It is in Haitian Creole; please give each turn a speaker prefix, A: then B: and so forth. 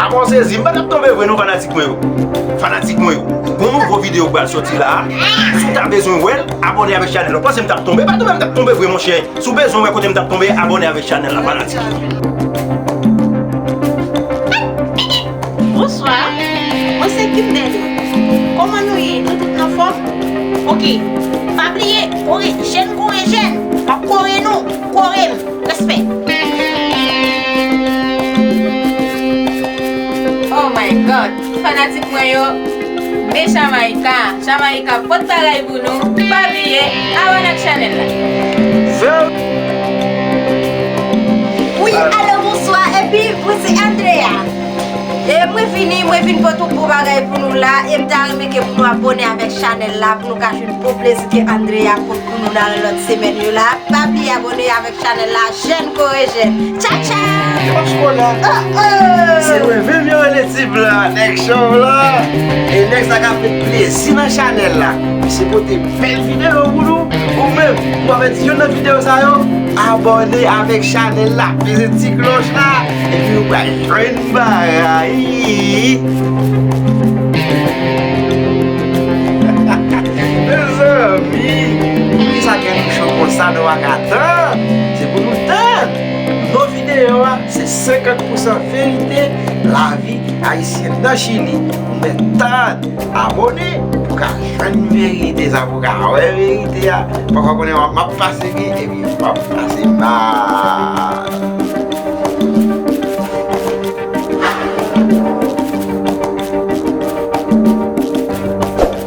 A: Amò sezi, m pa tap tonbe vre non fanatik mwen yo Fanatik mwen yo, gon nouvo video ki pral soti la a Si w ta bezwen wè l, abòne avèk chanèl la Ou panse m tap tonbe, pa tonbe m tap tonbe vre monchè Si w bezwen wè kote m tap tonbe, abòne avèk chanèl la fanatik Bonswa,
B: mwen se Kimberly Kòman nou ye, nou tout nan fòm? Ok, pa bliye, kore, jèn kore jèn, m ap kore nou! Kore m, respè.
C: Oh my God tout fanatik mwen yo me Jamaica Jamaica pot bagay pou nou pa bliye abone ak chanel la.
B: Wi alo bonswa epi mwen se Andrea e mwen vini mwen vin pot yon bon bagay pou nou la e m ta renmen ke pou nou abone avek chanel la pou nou ka jwenn bon plezi ke Andrea pot. Pou nou nan lòt semèn yo la Pa bliye abone avèk chanèl la Jèn kore jèn Tcha tcha Oh oh Se mwen menm yo rele
A: ti blan an Nèg chòv lan E nèg sa kap met plezi nan chanèl la Misye pote bèl videyo pou nou Ou menm ou pa pèdi youn nan videyo sa yo Abone avèk chanèl la Peze ti klòch la Epi ou pral jwenn bagay Mezanmi! Poukisa gen nou cho konsa nou paka tann? Se pou nou tann! Non videyo a se 50 pousan verite lavi ayisyen nan chili pou mwen tann! Abone pou ka jwenn verite sa pou ka wè verite a pafwa konnen wap map pase byen epi wap pase mal.